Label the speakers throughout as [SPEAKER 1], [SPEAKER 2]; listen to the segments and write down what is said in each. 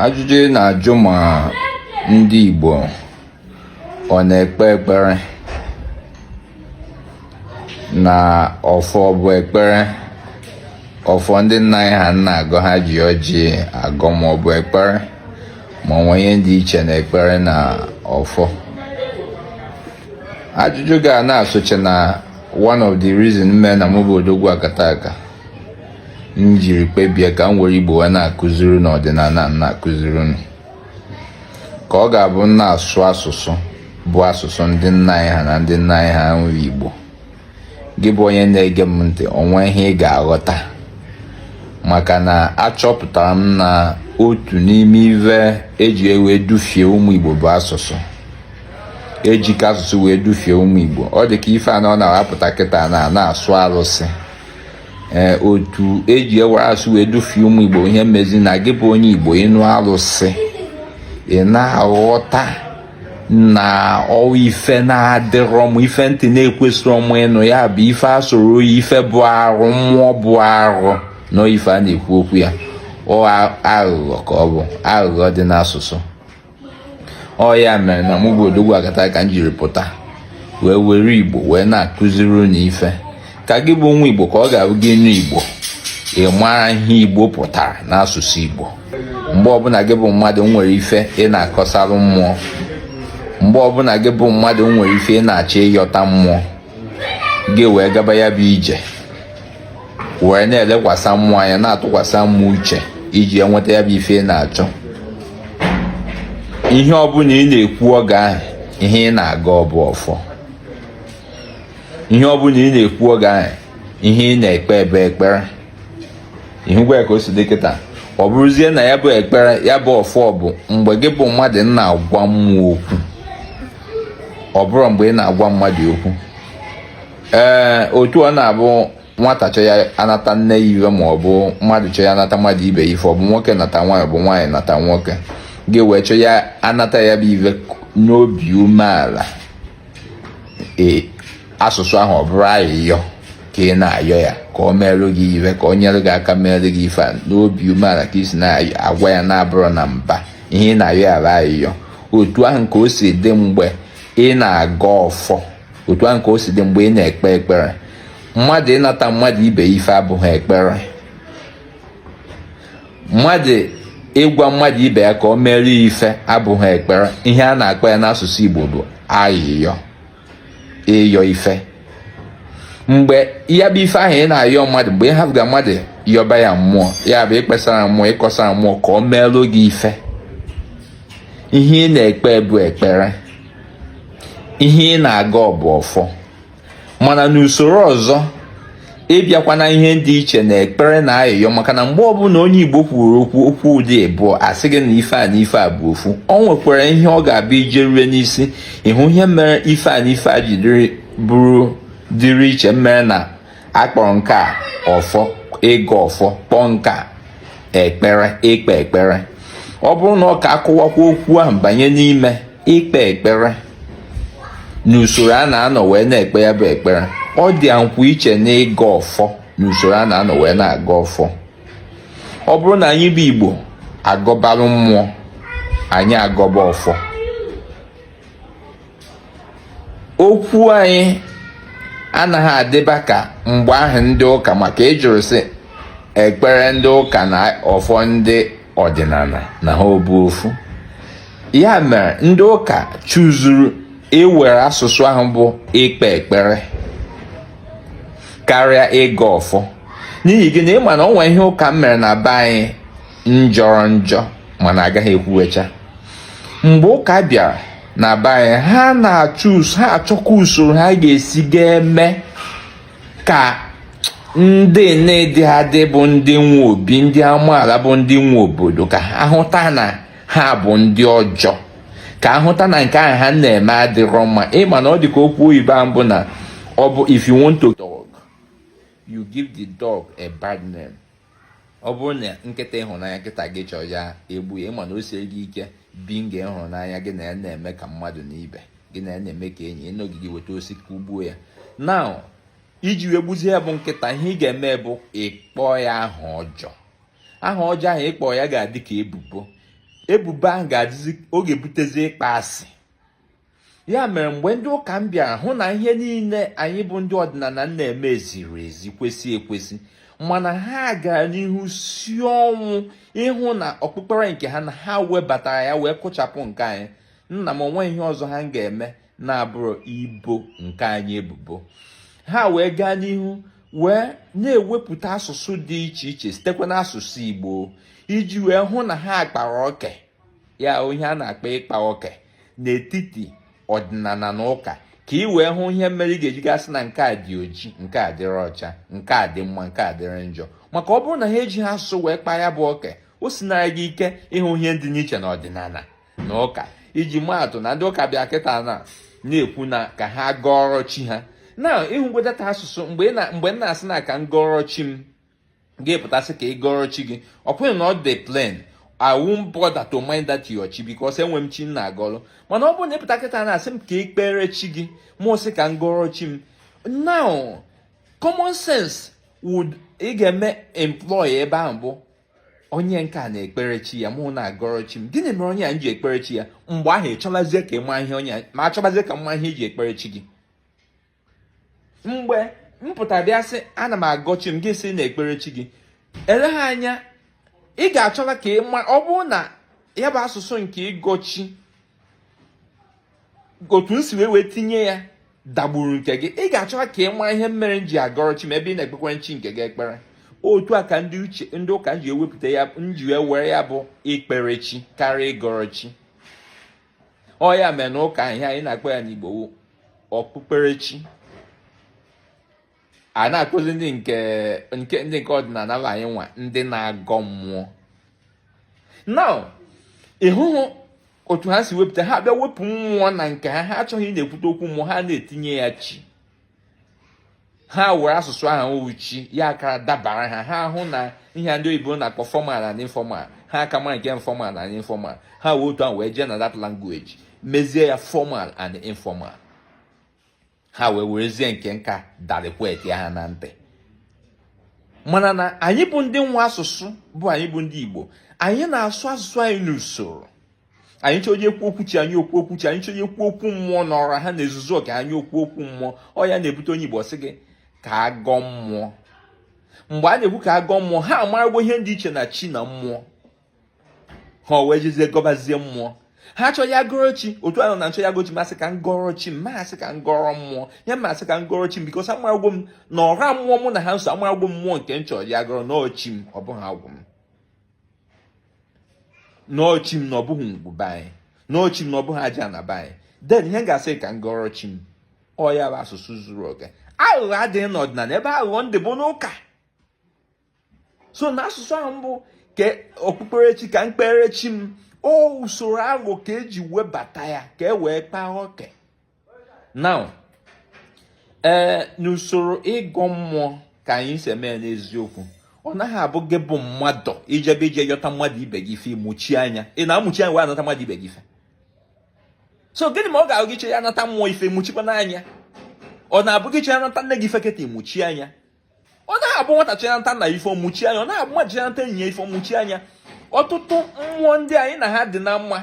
[SPEAKER 1] ajụjụ na-ajụ ma ndị Igbo ọ na-ekpe ekpere na ọfọ bụ ekpere ọfọ ndị nna anyị ha na-agọ ha ji ọjị agọ ma ọ bụ ekpere ma ọ nwee ihe dị iche na ekpere na ọfọ ajụjụ ga na-asoche na one of the reason mee na mụ bụ odogwu akataka m jiri kpebie ka m were igbo wee na-akụziri unu ọdịnala m na-akụziri unu ka ọ ga-abụ m na-asụ asụsụ bụ asụsụ ndị nna anyị ha na ndị nna anyị ha nwere igbo gị bụ onye na-ege m ntị o nwe ihe ị ga-aghọta maka na achọpụtara m na otu n'ime ive eji wee dufie ụmụ igbo bụ asụsụ ejika asụsụ wee dufie ụmụ igbo ọ dị ka ife a na ọ na-apụta kịta na na-asụ arụsị ee otu eji were asụsụ wee dufie ụmụ igbo ihe mezi na gị bụ onye igbo ịnụ arụsị ị na-aghọta na ọ bụ ife na-adịrọ mma ife ntị na-ekwesịrọ mụ ịnụ ya bụ ife asọrọ oyi ife bụ arụ mmụọ bụ arụ na ife a na-ekwu okwu ya ọ aghụghọ ka ọ bụ aghụghọ dị n'asụsụ ọ ya mere na mụ bụ odogwu akataka m jiri pụta wee were igbo wee na-akụziri unu ife ka gị bụ nwa igbo ka ọ ga-abụ gị nụ igbo ị mara ihe igbo pụtara n'asụsụ igbo mgbe ọbụla gị bụ mmadụ nwere ife ị na-akọsarụ mmụọ mgbe ọbụla gị bụ mmadụ nwere ife ị na-achọ ịyọta mmụọ gị wee gaba ya bụ ije wee na-elekwasị mmụọ anya na-atụkwasị mmụọ uche iji enweta ya bụ ife ị na-achọ ihe ọbụla ị na-ekwu oge ahụ ihe ị na-agọ bụ ọfọ ihe ọbụla ị na-ekwu oge ahụ ihe ị na-ekpe bụ ekpere ị hụgwo ka o si dị kịta ọ bụrụzie na ya bụ ekpere ya bụ ọfọ bụ mgbe gị bụ mmadụ na-agwa mmụọ okwu ọ bụrụ mgbe ị na-agwa mmadụ okwu ee eh, otu ọ na-abụ nwata chọ ya anata nne ya ive ma ọ bụ mmadụ chọ ya anata mmadụ ibe ya ife ọ bụ nwoke nata nwaanyị ọ bụ nwaanyị nata nwoke gị wee chọ ya anata ya bụ ive n'obi umeala ee asụsụ ahụ ọ bụrụ ayịyọ ka ị na-ayọ ya ka ọ merụ gị ive ka ọ nyere gị aka merụ gị ife n'obi umeala ka ị si na-agwa ya na-abụrọ na mba ihe ị na-ayọ ya bụ ayịyọ otu ahụ ka o si dị mgbe ị na-agọ ọfọ otu ahụ ka o si dị mgbe ị na-ekpe ekpere mmadụ ịnata mmadụ ibe ife abụghị ekpere mmadụ ịgwa mmadụ ibe ya ka ọ mere ife abụghị ekpere ihe a na-akpọ ya n'asụsụ Igbo bụ ayịyọ ịyọ ife mgbe ya bụ ife ahụ ị na-ayọ mmadụ mgbe ị hafụga mmadụ yọba ya mmụọ ya bụ ịkpesara mmụọ ịkọsara mmụọ ka ọ merụ gị ife ihe ị na-ekpe bụ ekpere ihe ị na-agọ bụ ọfọ mana n'usoro ọzọ ị bịakwa na ihe dị iche na ekpere na ayịyọ maka na mgbe ọbụla onye Igbo kwuru okwu okwu dị ịbụọ a sị gị na ife a na ife a bụ ofu o nwekwara ihe ọ ga-abụ i je rue n'isi ị hụ ihe mere ife a na ife a ji bụrụ dịrị iche mere na a kpọrọ nke a ọfọ ịgọ ọfọ kpọọ nke a ekpere ikpe ekpere ọ bụrụ na ọ ka a kọwakwuo okwu ahụ banye n'ime ikpe ekpere n'usoro a na-anọ wee na-ekpe ya bụ ekpere ọ dị nnukwu iche na ịgọ ọfọ n'usoro a na-anọ wee na-agọ ọfọ ọ bụrụ na anyị bụ Igbo agọbalụ mmụọ anyị agọba ọfọ okwu anyị anaghị adịba ka mgbe ahụ ndị ụka maka ị jụrụ sị ekpere ndị ụka na ọfọ ndị ọdịnala na ha ọ bụ ofu ya mere ndị ụka chụzuru iwere asụsụ ahụ bụ ikpe ekpere karịa ịgọ ọfọ n'ihi gịnị ị ma na o nwere ihe ụka mere na be anyị njọrọ njọ mana agaghị ekwucha mgbe ụka bịara na be anyị ha na-achụ ha achọkwa usoro ha ga-esi ga-eme ka ndị na-edi adị bụ ndị nwe obi ndị amaala bụ ndị nwe obodo ka a hụta na ha bụ ndị ọjọọ ka a hụta na nke ahụ ha na-eme adịrọ mma ị ma na ọ dị ka okwu oyibo ahụ bụ na ọ bụ if you want to dog you give the dog a bad name ọ bụrụ na nkịta ị hụ n'anya nkịta gị chọọ ịga egbu ya ị ma na o sie gị ike bi nga ịhụnanya gị na ya na-eme ka mmadụ na ibe gị na ya na-eme ka enyi ị nọgide weta osisi kụgbuo ya na iji wee gbuzie ya bụ nkịta ihe ị ga-eme bụ ịkpọ ya aha ọjọọ aha ọjọọ ahụ ị kpọ ya ga-adị ka ebubo ebubo ahụ ga-adịzi ọ ga-ebutezi ịkpọ asị ya mere mgbe ndị ụka bịara hụ na ihe niile anyị bụ ndị ọdịnala na-eme ziri ezi kwesị ekwesị mana ha gara n'ihu si ọnwụ ịhụ na okpukpere nke ha na ha webatara ya wee kụchapụ nke anyị nna m o nwe ihe ọzọ ha ga-eme na-abụrọ ibo nke anyị ebubo ha wee gaa n'ihu wee na-ewepụta asụsụ dị iche iche sitekwa n'asụsụ Igbo iji wee hụ na ha kpara oke ihe a na-akpọ ịkpa oke n'etiti ọdịnala na ụka ka ị wee hụ ihe mere ị ga-eji ga-asị na nke a dị oji nke a dịrị ọcha nke a dị mma nke a dịrị njọ maka ọ bụrụ na ha ejighị asụsụ wee kpaa ya bụ oke o sinara gị ike ịhụ ihe dị n'iche na ọdịnala na ụka iji maatụ na ndị ụka bịa kịta na na-ekwu na ka ha gọọrọ chi ha na ị hụgo that asụsụ mgbe m na-asị na ka m gọọrọ chi m gị apụta sị ka ị gọọrọ chi gị ọ bụghị na ọ dị plain I won't bother to mind that your chi because enwe m chi m na-agọrọ mana ọ bụrụ na ị pụta kịta na-asị m ka ị kpere chi gị mụ sị ka m gọọrọ chi m now common sense would ị ga-eme employ ebe ahụ bụ onye nke a na-ekpere chi ya mụ na-agọrọ chi m gịnị mere onye a ji ekpere chi ya mgbe ahụ ị chọbazie ka ị ma ihe onye m achọbazie ka m ma ihe i ji ekpere chi gị mgbe m pụtara bịa sị ana m agọ chi m gị sị na-ekpere chi gị eleghị anya ị ga-achọla ka ị ma ọ bụrụ na ya bụ asụsụ nke ịgọ chi otu m si wee wee tinye ya dagburu nke gị ị ga-achọla ka ị mara ihe mere m ji agọrọ chi m ebe ị na-ekpekwa chi nke gị ekpere otu a ka ndị uche ndị ụka ji ewepụta ya ji wee were ya bụ ikpere chi karịa ịgọrọ chi ọ ya mere na ụka ihe anyị na-akpọ ya n'Igbo okpukperechi a na-akpọzi ndị nke nke ndị nke ọdịnala bụ anyị nwa ndị na-agọ mmụọ now ị hụrụ otu ha si wepụta ha bịa wepụ mmụọ na nke ha ha achọghị ịna-ekwute okwu mmụọ ha na-etinye ya chi ha were asụsụ ahụ uchi ya aka dabara ha ha hụ na ihe ndị oyibo na-akpọ formal na informal ha ka mara nke formal na informal ha wee otu ahụ wee jee na that language mezie ya formal and informal ha wee werezie nke nka darikwet ya ha na ntị mana na anyị bụ ndị nwe asụsụ bụ anyị bụ ndị Igbo anyị na-asụ asụsụ anyị n'usoro anyị chọọ ikwu okwu chi anyị ekwuo okwu chi anyị chọọ ikwu okwu mmụọ na ọra ha na-ezuzu oke anyị ekwuo okwu mmụọ ọ ya na-ebute onye Igbo sị gị ka a gọọ mmụọ mgbe a na-ekwu ka a gọọ mmụọ ha amaragwo ihe dị iche na chi na mmụọ ha wee jezie gọbazie mmụọ ha chọọ ya gọrọ chi otu ahụ na m chọọ ya gọ chi m asị ka m gọrọ chi m m asị ka m gọrọ mmụọ ya m asị ka m gọrọ chi m because amaragwo m na ọra mmụọ mụ na ha so amaragwo mmụọ nke m chọrọ ya gọrọ na ọ chi m ọ bụghị agwụ m na ọ chi m na ọ bụghị ngwu be anyị na ọ chi m na ọ bụghị ajana be anyị then ihe ga-asị ka m gọrọ chi m ọ ya bụ asụsụ zuru oke aghụghọ adịghị n'ọdịnala ebe aghụghọ dị bụ n'ụka so na asụsụ ahụ bụ ka okpukperechi ka m kpere chi m ọ usoro aghụghọ ka e ji webata ya ka e wee kpaa oke now ee n'usoro ịgọ mmụọ ka anyị si eme n'eziokwu ọ naghị abụ gị bụ mmadụ i jebe ije yọta mmadụ ibe gị ife ị mụchie anya ị na-amụchi anya wee anata mmadụ ibe gị ife so gịnị mere ọ ga-abụ gị che ya anata mmụọ ife mụchikwa n'anya ọ na-abụ gị che ya anata nne gị ife kịta ị mụchie anya ọ naghị abụ nwata che ya anata nna ife mụchi anya ọ naghị abụ mmadụ che ya anata enyi ya ife mụchi anya ọtụtụ mmụọ ndị anyị na ha dị na mma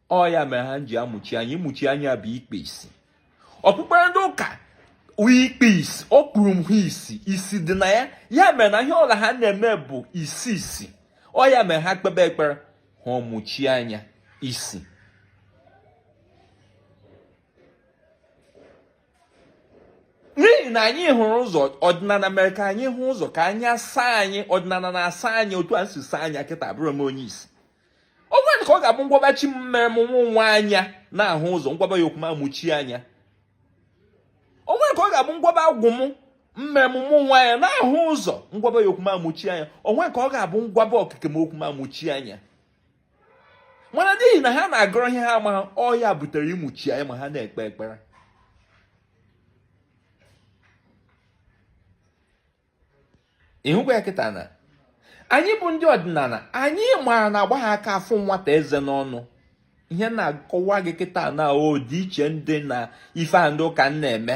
[SPEAKER 1] ọ ya mere ha ji amụchi anya ịmụchi anya bụ ikpu isi okpukpere ndị ụka ikpu isi o kpuru ha isi isi dị na ya ya mere na ihe ọla ha na-eme bụ isi isi ọ ya mere ha kpebe ekpere ha ọmụchi anya isi n'ihi na anyị hụrụ ụzọ ọdịnala mere ka anyị hụ ụzọ ka anya saa anyị ọdịnala na-asa anya otu a si saa anya kịta abụrọ m onye isi o nwere ka ọ ga-abụ m gwaba chi m mere mụ nwa anya na-ahụ ụzọ m gwaba ya okwu m amụchie anya o nwere ka ọ ga-abụ m gwaba agwụ m mere mụ nwa anya na-ahụ ụzọ m gwaba ya okwu m amụchie anya o nwere ka ọ ga-abụ m gwaba okike m okwu m amụchie anya mana n'ihi na ha na-agọrọ ihe ha amaghị ọ ya butere ịmụchi anya ma ha na-ekpe ekpere ị hụkwa ya kịta na anyị bụ ndị ọdịnala anyị mara na agbaha aka afụ nwata eze n'ọnụ ihe m na-akọwa gị kịta na ọdịiche dị na ife a ndị ụka na-eme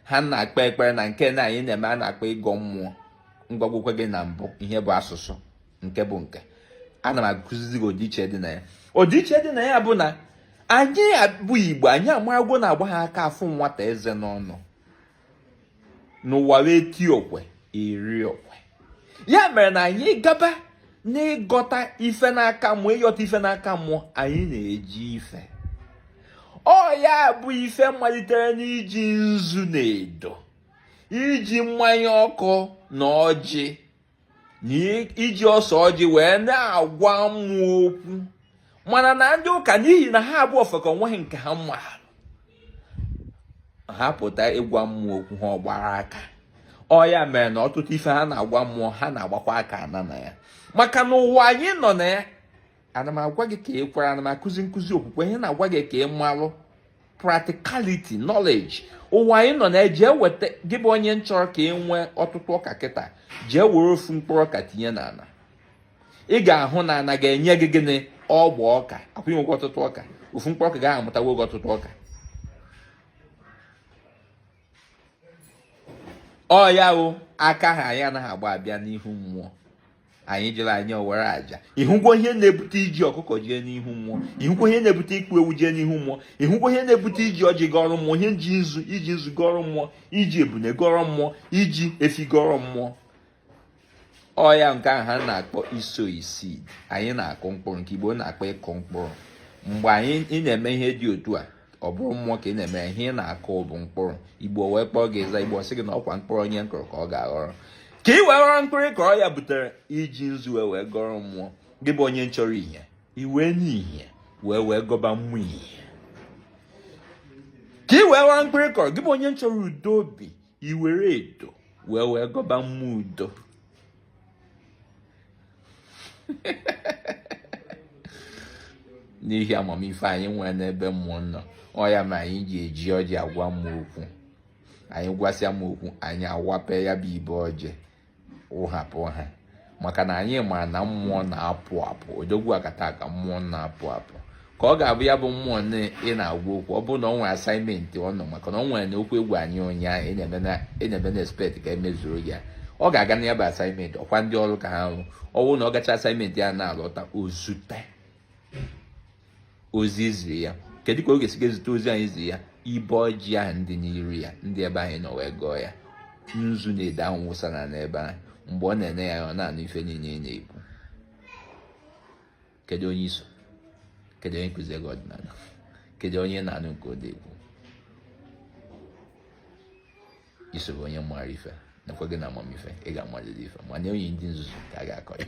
[SPEAKER 1] ha na-akpọ ekpere na nke na anyị na-eme a na-akpọ ịgọ mmụọ m gwagwokwa gị na mbụ ihe bụ asụsụ nke bụ nke ana m akụzizi gị ọdịiche dị na ya ọdịiche dị na ya bụ na anyị bụ igbo anyị amagwo na agbaha aka afụ nwata eze n'ọnụ n'ụwa eti okwe eri okwe ya mere na anyị gaba n'ịgọta ife n'aka mmụọ ịghọta ife n'aka mmụọ anyị na-eji ife ọ ya bụ ife malitere n'iji nzu na edo iji mmanya ọkụ na ọjị na iji ose ọjị wee na-agwa mmụọ okwu mana na ndị ụka n'ihi na ha bụ ofeke o nweghị nke ha marụ ha pụta ịgwa mmụọ okwu ha ọgbara aka ọ ya mere na ọtụtụ ife ha na-agwa mmụọ ha na-agbakwa aka ana na ya maka na ụwa anyị nọ na ya ana m agwa gị ka i kwere ana m akụzi nkụzi okwukwe ihe m na-agwa gị ka ị malụ practicality knowledge ụwa anyị nọ na-eji eweta gị bụ onye chọrọ ka i nwee ọtụtụ ọka kịta jee were ofu mkpụrụ ọka tinye n'ana ị ga-ahụ na ana ga-enye gị gịnị ọgba ọka akwụnye gị ọtụtụ ọka ofu mkpụrụ ọka ahụ amụtawo gị ọtụtụ ọka ọ ya wụ aka ahụ anyị anaghị agba abịa n'ihu mmụọ anyị jụrụ anyị owere aja ị hụgwo ihe na-ebute iji ọkụkọ jee n'ihu mmụọ ị hụgwo ihe na-ebute ịkpụ ewu jee n'ihu mmụọ ị hụgwo ihe na-ebute iji ọjị gọrọ mmụọ ihe ji nzu iji nzu gọrọ mmụọ iji ebune gọrọ mmụọ iji efi gọrọ mmụọ ọ ya nke ahụ ha na-akpọ isow seed anyị na-akụ mkpụrụ nke igbo na-akpọ ịkụ mkpụrụ mgbe anyị na-eme ihe dị otu a ọ bụrụ mmụọ ka ị na-emere ihe ị na-akụ bụ mkpụrụ igbo wee kpọọ gị ịza igbo sị gị na ọkwa mkpụrụ onye nkụrụ ka ọ ga-aghọrọ ka ị wee ghọrọ mkpụrụ ị kọrọ ya butere iji nzu wee wee gọrọ mmụọ gị bụ onye nchọrọ ihe iwe n'ihe wee wee gọba mmụọ ihe ka ị wee ghọrọ mkpụrụ ị kọrọ gị bụ onye nchọrọ udo obi i were edo wee wee gọba mmụọ udo n'ihi amamife anyị nwere n'ebe mmụọ nọ ọ ya ma anyị ji eji ọjị agwa mmụọ okwu anyị gwasịa mmụọ okwu anyị awape ya bụ ibe ọjị wụhapụ ha maka na anyị ma na mmụọ na-apụ apụ odogwu akataka mmụọ na-apụ apụ ka ọ ga-abụ ya bụ mmụọ ị na-agwa okwu ọ bụrụ na ọ nwere assignment ọ nọ maka na ọ nwere na okwu egwu anyị ụnyaahụ enyebe na expect ka emezuru ya ọ ga-aga na ya bụ assignment ọkwa ndị ọrụ ka ha rụ ọ bụrụ na ọ gacha assignment ya na-alọta o zute ozi i zi ya kedu ka ọ ga-esi ga-ezute ozi anyị zi ya ibe ọjị ahụ ndị n'iru ya ndị ebe anyị nọ wee gọọ ya nzu na edo ahụ wụsara n'ebe ahụ mgbe ọ na-ene ya ọ na-anụ ife niile ị na-ekwu kedu onye i so kedu onye nkụziri gị ọdịnala kedu onye na-anụ nke ọ na-ekwu i so onye mara ife nakwa gị na amamife ị ga-amalite ife ma nye onye ndị nzuzu ka a ga-akọ ya